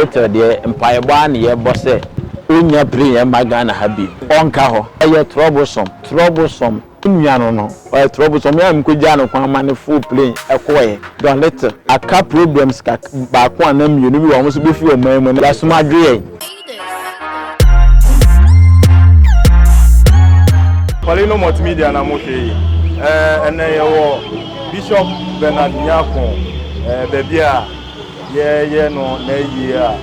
Ethel deɛ mpaebɔ ara na yɛbɔ sɛ ɔnnya pire yɛn mma Ghana ha bio, ɔnka hɔ. Ɛyɛ troublesome, troublesome. Me nua no no, ɔyɛ troublesome. Me a mekɔgyaa no kwan ma no foro plane kɔeɛ. Don Little aka problems kak baako anaa mmienu bi wɔ wɔn so bɛfiri ɔman mu na yɛasom adwo yɛn. Colino Multimedia na mo hwɛ yi. Ɛnɛ yɛwɔ Bishop Bernard Nyarko baabi a. Yɛyɛ no n'ayie a,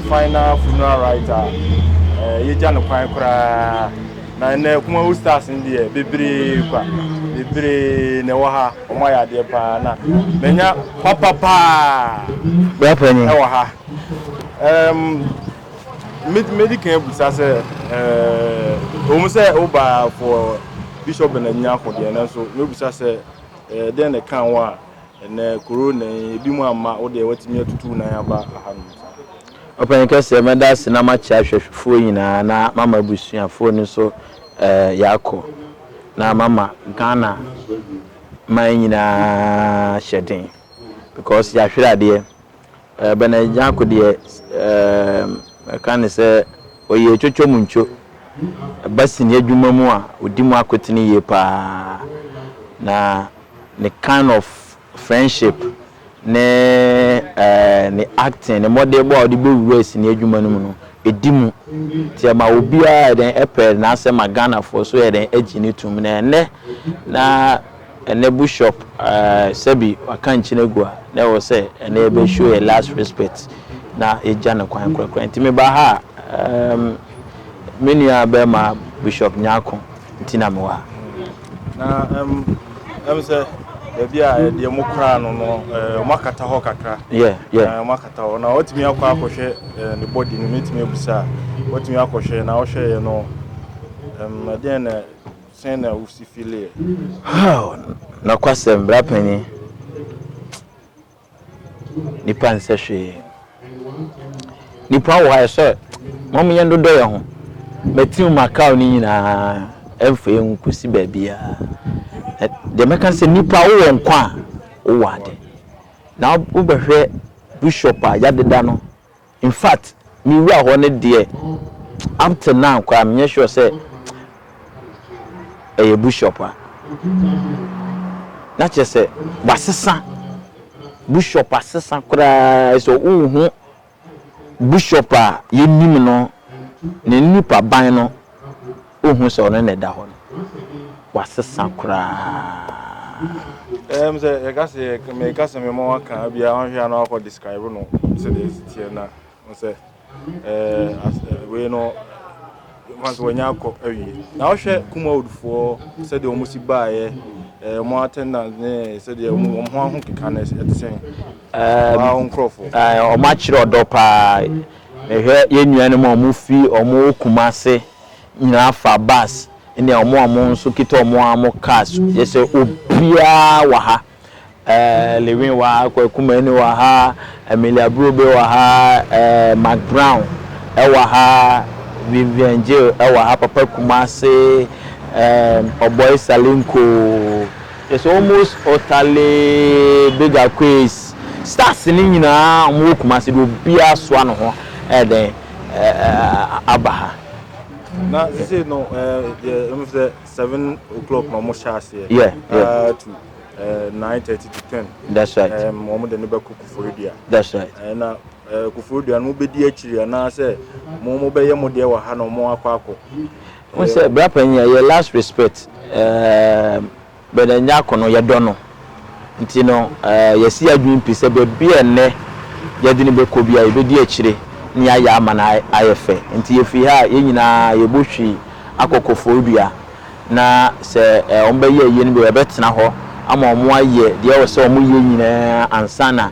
mfan na funeral writer a, eh, yɛgya no kwan koraa. Na ɛnɛ Kumawu Stars no deɛ, bebree kwa, bebree na ɛwɔ ha, wɔn ayɛ adeɛ paa, na manya papa paa ɛwɔ ha. Um, medi kan abusa sɛ, eh, ɛwɔ mu sɛ wobaa for Bishop Benanyina ko deɛ, nanso mɛbusa sɛ, eh, dɛn na ɛka ho a, Ɛnnɛ Corona yi, ebinom amma, wo deɛ woatumi atutu wo nan aba ahanom saa. Ɔpanyin kɛseɛ, mɛda ase na makyea hwɛhwɛfoɔ nyinaa na mama abusuafoɔ no nso yɛakɔ na mama Ghana man nyinaa hyɛden because yɛahwere adeɛ. Bernard Nyarko deɛ mɛka ne sɛ ɔyɛ atwotwo mu ntwo. Ɛba sini adwuma mu a, ɔdi mu akotene yie pa ara. Na ne kind of friendship ne ne acting, ne mmɔdenbɔ a ɔde bɛwura sini adwuma no mu no, ɛdi mu. Nti ɛma obiara yɛ dɛn pɛ n'asɛm ma Ghanafoɔ nso yɛ dɛn gye no tom. Na ɛnnɛ na Ɛnɛ bushop ahh sɛbi waka nkyen agu a na ɛwɔ sɛ ɛnɛ yɛbɛ show yɛ last respect na yɛgya no kwan korakora nti me ba ha umm me nua bɛɛma bushop nyarko nti na me wɔ ha. Na umm ɛm sɛ baabi a ɛdeɛ mo koraa no no ɛɛ ɔmo akata hɔ kakra Yeah yeah. Ɛɛ ɔmo akata hɔ na watumi akɔ akɔhwɛ ɛɛ ne body no mɛtumi abusa a watumi akɔhwɛ na ɔhwɛeɛ no ɛmm ɛdeɛn na Sɛn na wusi fi Lear? Haw! Nokwasɛm, bra panyin, nipa nsɛ hwee. Nipa wɔ ha ɛsɛ ma mo yɛn dodɔ yɛn ho. Mɛtiw Macau no nyinaa ɛmfa yɛn nkosi baabiara. Deɛ mɛka sɛ nipa wowɔ nkwa a wowɔ ade. Na wobɛhwɛ bishop a yɛadeda no Infact me wura hɔ no deɛ up till now koraa menyɛ sure sɛ ɛyɛ bushop a na kyerɛ sɛ wasesa bushop asesa koraa sɛ wonhu bushop a yɛnim no ne nipa ban no. Wohu sɛ ɔno na ɛda hɔ no, wɔasesa koraa. Ɛm sɛ yɛka sɛ yɛ meka sɛ mema waka bia ɔhwɛ a na wakɔ describe no sɛdeɛ ɛsi teɛ na sɛ wei no ma sɛ wanya akɔ awie na wohwɛ kumawoodfoɔ sɛdeɛ wɔn si baeɛ wɔn attendance ne sɛdeɛ wɔn ho aho keka no ɛte sɛn waa wɔn nkurɔfoɔ wɔn akyerɛ ɔdɔ paa mehwɛ yɛn nuanom a wɔn fi wɔn kuma ase nyinaa fa bus ne a wɔn a wɔn nso kita wɔn ara mo cars yɛ sɛ obiara wɔ ha ɛɛ lewin wɔ ha kwakumani wɔ ha amelia brobe wɔ ha ɛɛ mark brown ɛwɔ ha vivian jill ɛwɔ ha papa kumase ɛɛ ɔbɔi salinko yɛ sɛ almost ɔtale big aquays stars ne nyinaa wɔn wɔ kumase de obiara soa ne ho ɛɛdɛn. aba ha. Na sisi no yɛ ɛmu sɛ seven o'clock na wɔn hyɛ aseɛ. Yeah, yeah. to nine thirty to ten. That's right. Wɔn de no bɛ kɔ Koforidua. That's right. Ɛna Koforidua no bɛ di akyiri anaasɛ mo mo bɛ yɛ mo deɛ wɔ ha na wɔn akɔ akɔ. Wɔn sɛ brapanyin yɛ last respect. Um, Bernard Nyarko no, yɛdɔ no. Ntsi no, yɛasi yɛn adwen pi sɛ beebi a nnɛ yɛdze no bɛkɔ biara, yebedi ekyire na yɛayɛ ama no ayɛ fɛ. Ntsi yefi ha a, hɛn nyina yebohue akɔ Koforidua, na sɛ wɔbɛyɛ eyi no bi a, yɛbɛtsena hɔ ama wɔayɛ deɛ ɔwɔ sɛ wɔyɛ nyina ansaana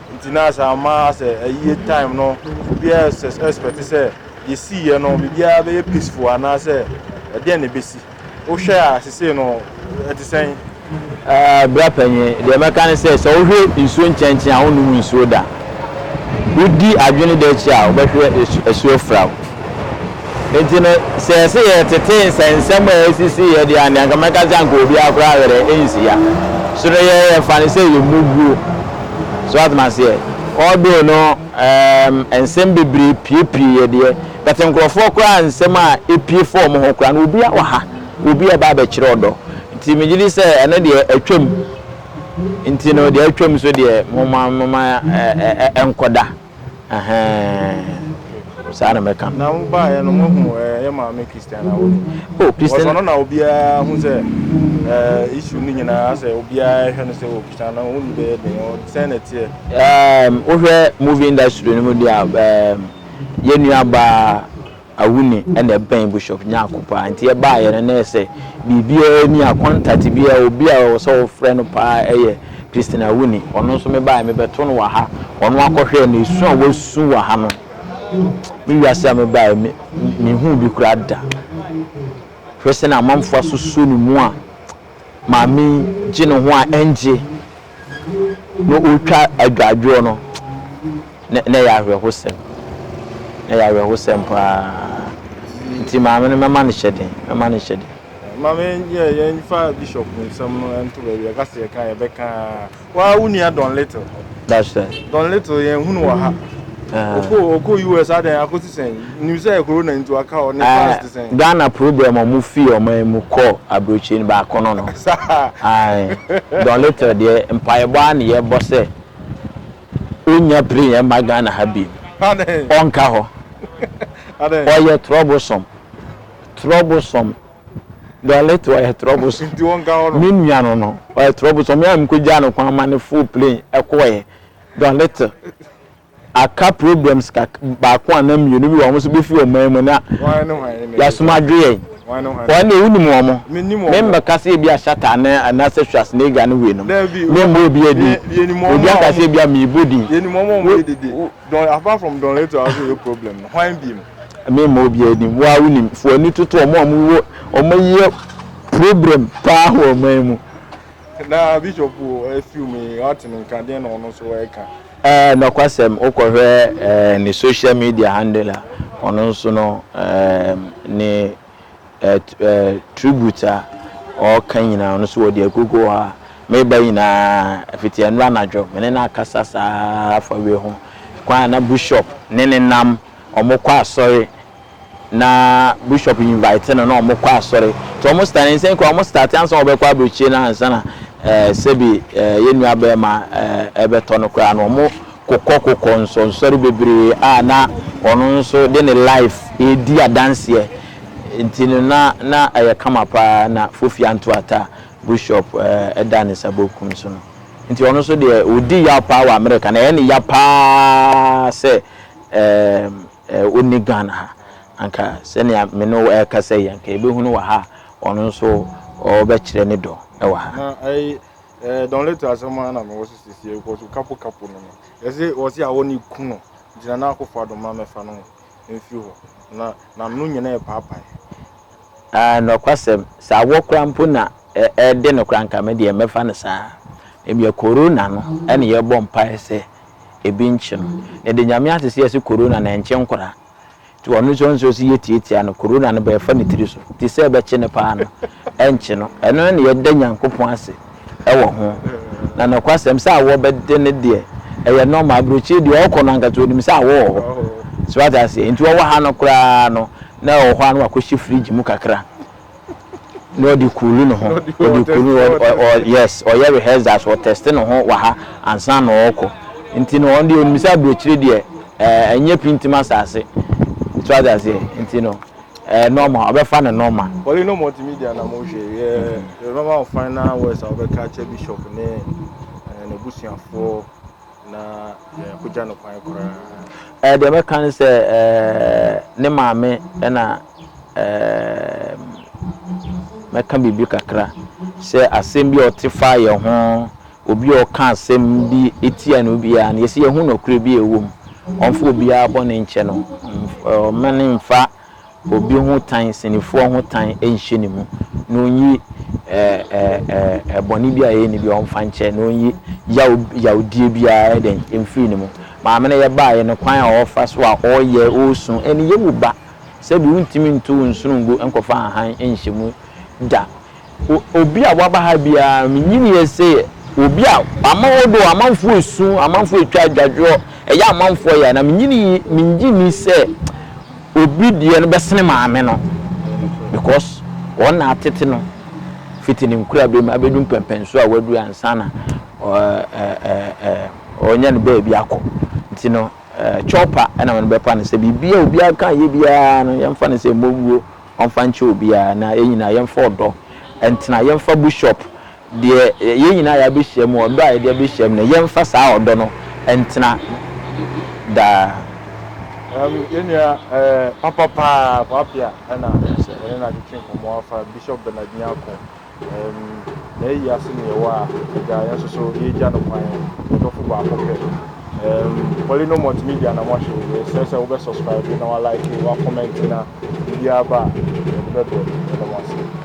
Nti na saa ma asɛ ayie time no obiaa expect sɛ deɛ siiɛ no biribiaa bɛyɛ peaceful anaa sɛ ɛdeɛn na ɛbɛsi. Wo hwɛ a sesei no ɛte sɛn? Bra panyin, deɛ mɛka ne sɛ, sɛ wo hwɛ nsuo nkyɛnkyɛn a wo nnom nsuo da. Wo di adwene da akyi a wo bɛhwɛ asuo fra wo. Enti no, sɛ ɛse yɛtete nsɛnsɛm a esisii yɛ de a, nea anka mɛka sɛ anka obiara koraa werɛ rensi ya. So no yɛ yɛfa no sɛ yɛ mmubuo? So wate maseɛ? Although no eem nsɛm bebree piepie yɛ deɛ, but nkorɔfoɔ koraa nsɛm a epie fa wɔn ho koraa no obiara wɔ ha, obi a ɛba abɛkyerɛ ɔdɔ. Nti megye di sɛ ɛno deɛ atwam. Nti no deɛ atwam nso deɛ momma momma ɛnkɔda. Ɛhɛɛɛɛɛ saa na mɛka no. Na mo baeɛ no mo hu ɛɛ yɛ maame Christian a wɔn. Oh Christian. Wɔsɔ no na obiara hu sɛ ɛɛ issue no nyinaa sɛ obiara hwɛ no sɛ wɔ Christian na wɔn ni bɛyɛ den ɔ sɛn na ɛteɛ. Ɛɛm wohwɛ movie industry no mu deɛ ɛɛm yɛn nua baa. Awu nne na ɛbɛn Bishop Nyarko paa nti yɛbaeɛ no na ɛyɛ sɛ biribiara nni a contact biara obi a ɛwɔ sɛ wofrɛ no paa yɛ Christine Awu nne. Ɔno nso mebaeɛ mebɛto no wɔ ha ɔno akɔhwɛ na esu a wasu wɔ ha no me wiase a mebaeɛ me menhuu bi koraa da. Hwɛ sɛnea amanfoɔ asoso ne mu a maame yi gye ne ho a ɛngye na ɔtwa adwadwoɔ no, na na ɛyɛ awerɛhosɛm, na ɛyɛ awerɛhosɛm paa. Nti maame no mɛma no hyɛden, mɛma no hyɛden. Maame yɛ yɛn fa bishop nsɛm no nto baabi ɛka sɛ yɛka yɛbɛka. Waa wo nua Don Little. That's right. Don Little yɛn hunu wɔ ha. Uh-huh. Oko oko US adan akosi sɛn. Nim sɛ corona nti waka hɔ ne uh, fans te sɛn. Ghana program ɔmo fi ɔman mu kɔ aburokyire no baako no no. Don Little deɛ mpaebɔ a ne yɛ bɔ sɛ onya pere yɛn ma Ghana ha bi. Ɔnka hɔ. Ɔyɛ troublesome. Troublesome. Dolit ɔyɛ trɔbos me nua no no ɔyɛ trɔbos ɔmo a mekɔ gyaa no kwan ma no foo plane ɛkɔɛ Dolit aka problems kak baako ana mmienu bi wɔ ɔmo so befi ɔman mu na yasoma adwo yɛn wɔn deɛ wonim ɔmo me mbɛka sɛ ebi ahyata ana anaasɛ Schwarzenegger no wei nom me mbɔ obi adi obi aka sɛ ebi a meebɔ din. Yɛnim ɔmo a ɔmo yɛ dede don apart from Dolit a ɔso yɛ problem no hwan biem. Meremma obiara anim. Wo ara wonim. Fa w'ani toto wɔn a wɔwɔ wɔyɛ problem paa wɔ ɔman mu. Na bishop afiw me ɔte no nka deɛ na ɔno nso ɛka. Ɛɛ nɔkwasɛm wokɔhwɛ ɛɛ ne social media handle a ɔno nso no ɛɛ ne. tribute a ɔreka nyinaa ɔno nso wɔde agugu hɔ a meba nyinaa fiti ɛno anadwo me ne no akasa saa afa wei ho kwan a na bishop ne ne nam wɔn kɔ asɔre na bishop invite no na wɔn kɔ asɔre nti wɔn start ne nsɛn kura wɔn start ansa wɔbɛkɔ aburokyire na ansa na ɛɛ sɛbi ɛɛ yɛn nua bɛrima ɛɛ ɛbɛtɔ no koraa na wɔn kokɔkokɔ nsɔnsɔre bebree a na ɔno nso de ne life redi adanseɛ nti no na na ɛyɛ kama paa na Fofi Anto Ata Bushop da ne nsa bokum so no nti ɔno nso deɛ ɔdi yaw paa wɔ Amerika na ɛyɛ ne ya paa sɛ ɔnni Ghana ha anka sɛnea me ne wo ɛrekasa yi anka yɛbɛhunu wɔ ha a ɔno nso ɔrebɛkyerɛ ne dɔ wɔ ha. Eh don little asɛm ara na mewɔ so sesie because wo kapo kapo no no ɛse ɔse awɔ ne ku no gyina na akofo ado ma mɛfa no mfiri hɔ na nam no nyina ɛpaapae. Ah nokwasɛm sɛ awɔ koraa mpo na ɛde no koraa nka me deɛ mɛfa no saa ebia corona no ɛne yɛbɔ mpaeɛ sɛ ebi nkye no na yɛde nyame ase sɛ yɛse corona no ɛnkye nkoraa. Nti ɔno nso ɔnsuro sɛ yɛtiatia no, Corona no bɛfa ne tiri so, nti sɛ ɛbɛkye no paa no, ɛnkye no. Ɛno ne deɛ yɛda Nyankopɔn ase wɔ ho. Na nokwasɛm sɛ awɔ bɛde no deɛ, ɛyɛ normal, aburokyire deɛ ɔɔkɔ no ankasa ɔnim sɛ awɔ wɔ hɔ. So wate aseɛ? Nti ɔwɔ ha no koraa no, na ɔwɔ hɔ a na wakɔhyɛ fridge mu kakra, na ɔde cool ne ho ɔde cool ne ho ɔ ɔ yes ɔyɛ rehearsals ɔ test ne ho wɔ ha ansa na ɔrekɔ nti no ɔno deɛ onim sɛ aburokyire deɛ ɛɛ ɛnyɛ pintim asaase so ate aseɛ nti no ɛɛ normal ɔbɛfa no normal. Pɔli no multimedia na mo hwɛ yɛ yɛbɛma wo final words a wobɛka akyɛ bishop ne ɛɛ n'abusuafoɔ na yɛakɔgya no kwan koraa. Deɛ mɛka ne sɛ ne maame na mɛka biribi kakra sɛ asɛm bi a ɔte fa yɛ ho obi a ɔka asɛm bi etia no biara no yɛsɛ yɛhu nɔkorɛ bi a ɛwɔ mu ɔmfa obiara bɔne nkyɛ no ɔma ne mfa Obi ho tan, sɛnifoɔ ho tan nhyɛ ne mu, na ɔnyi ɛɛɛɛɛ bɔne bi a yɛyɛ no biara ɔmfa nkyɛ, na ɔnyi yaw yawdie biara ɛdɛn mfiri ne mu. Maame no yɛbaeɛ no, kwan a ɔfa so a ɔyɛ, ɔresu, ɛne yɛ wo ba. Sɛbi wontumi nto wo nsono ngu nkɔfa ahan nhyɛ mu da. Obi a waba ha biara, menyiniiɛ sɛ yɛ obi a ama odo amanfoɔ esu, amanfoɔ etwa adwadwoɔ, ɛyɛ amanfoɔ ya, na menyinii, mengye ni sɛ obi deɛ no bɛsene maame no, because wɔn na atete no fiti ne nkurabɛ mu abɛdu mpɛmpɛnsoɔ a wadu ansa na ɔnya ne baabi akɔ. Nti no, chopper na wɔn bɛpa no sɛ biribi a obiara ka yɛ biara no, yɛmfa no sɛ mmɔwuo. ɔmfa nkyɛ obiara na yɛn nyinaa yɛmfa ɔdɔ ntena, yɛmfa bushop deɛ yɛn nyinaa yɛabɛhyia mu, ɔdɔ a yɛde abɛhyia mu no, yɛmfa saa ɔdɔ no ntena daa. Um, yɛn nua eh, papa paa, Kwapea, ɛna yɛne no atwetwe nkɔmmɔ afa Bishop Bernard Nyarko Ɛɛm, ɛyɛ yi ase na yɛwɔ a, agya, yɛn nso so yɛregya no kwan, yɛn dɔfo baako pɛ. Ɛɛm, Polino Multimedia na moahwɛ yi, yɛsrɛ sɛ wobɛ subscribe na wa like, wa comment na biribiara ba a, yɛde bɛbrɛ. Yɛda mo ase.